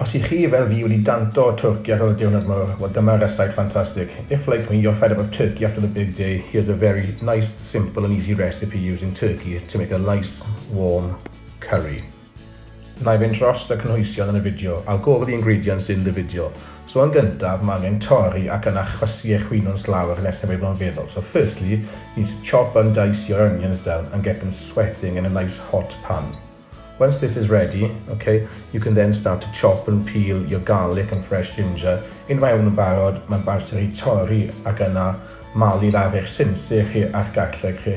Os i chi fel fi wedi danto o twrci ar ol y diwrnod mowr, wel dyma resaip ffantastig. If like me you're fed up of turkey after the big day, here's a very nice, simple and easy recipe using turkey to make a nice, warm curry. Na'i fynd drost y cynhwysion yn y fideo, I'll go over the ingredients in the video. So yn gyntaf, mae angen torri ac yna chwysu eich winwns lawr nes y byddwn yn feddwl. So firstly, you need to chop and dice your onions down and get them sweating in a nice hot pan. Once this is ready, okay, you can then start to chop and peel your garlic and fresh ginger. Un mae hwn yn barod, mae'n barod i torri ac yna malu lawr eich sinsir chi a'r garlleg chi.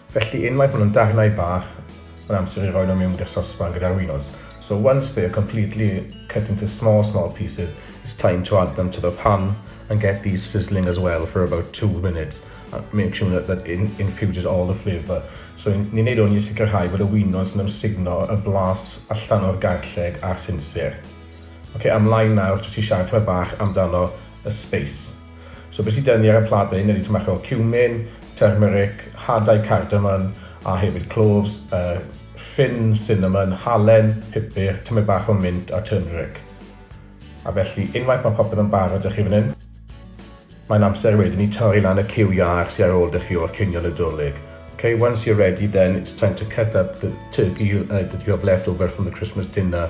Felly unwaith ma' nhw'n darnau bach, mae'n amser i roi nhw mewn i'r sosban gyda'r winos. So once they are completely cut into small small pieces, it's time to add them to the pan and get these sizzling as well for about two minutes and make sure that that in infuses all the flavour. So ni'n neud hwn i sicrhau bod y winos yn ymsugno y blas allan o'r garlleg a'r sinsir. Ok, ymlaen nawr jyst i siarad tymed bach amdano y space. So be sy 'da ni ar y plat fan hyn ydi tomato o cumin, turmeric, hadau cardamom a hefyd cloves, uh, ffyn cinnamon, halen, pupur, tymed bach o mint a turmeric. A felly, unwaith mae popeth yn barod â chi fan hyn, mae'n amser wedyn i torri lan y cyw iach sy'n ar ôl dy chi o'r cinio Nadolig. Okay, once you're ready then it's time to cut up the turkey uh, that you have left over from the Christmas dinner.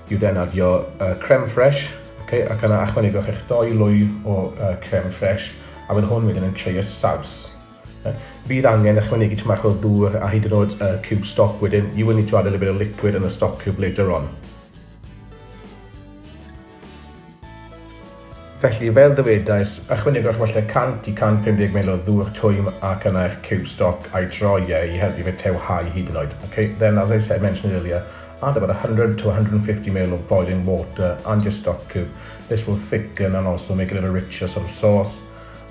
I ddefnyddio creme fraiche, okay, ac yna achwanegwch eich doi lwy o creme fraiche, a bydd hwn wedyn yn creu'r saws. Bydd angen ychwanegu tymach bach o ddŵr a hyd yn oed uh, cube stock wedyn. You will need to add a little bit of liquid in the stock cube later on. Felly, fel ddywedais, ychwanegwch falle 100 i 150 ml o ddŵr twym ac yna eich ciwb stoc a'i droi e i helpu fe tewhau hyd yn oed. Ok, then as I said, mentioned earlier, add about 100 to 150 ml of boiling water and your stock cube, this will thicken and also make it a little richer sort of sauce,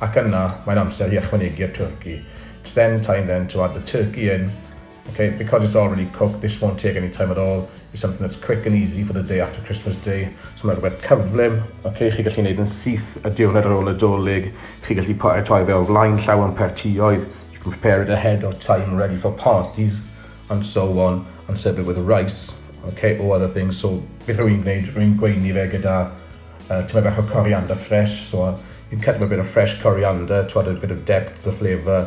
ac yna mae'n amser i ychwanegu'r twrci. It's then time then to add the turkey in, Ok, because it's already cooked, this won't take any time at all. It's something that's quick and easy for the day after Christmas Day. So mae'n rhywbeth cyflym. Ok, chi gallu gwneud yn syth y diwrnod ar ôl y dolyg. Chi gallu paratoi fe o flaen llaw yn pertioedd. You can prepare it ahead of time, ready for parties, and so on, and serve it with rice. Ok, or other things. So, beth rwy'n gwneud, rwy'n gweini fe gyda uh, tyma bach o coriander fresh. So, you cut a bit of fresh coriander to add a bit of depth to the flavour.